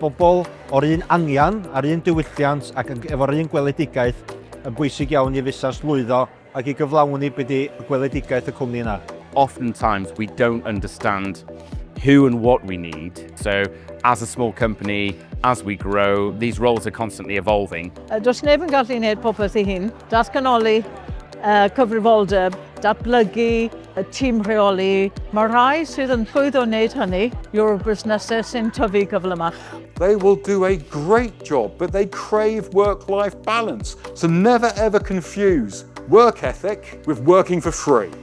bobl o'r un angen a'r un diwylliant ac efo'r un gweledigaeth yn bwysig iawn i fusnes lwyddo ac i gyflawni be di gweledigaeth y cwmni yna. oftentimes we don't understand who and what we need. So as a small company, as we grow, these roles are constantly evolving. Does neb yn gallu neud popeth ei hun. Datganoli y cyfrifoldeb, datblygu y tîm rheoli, mae rhai sydd yn llwyddo wneud hynny yw'r busnesau sy'n tyfu gyflymach. They will do a great job, but they crave work-life balance, so never ever confuse work ethic with working for free.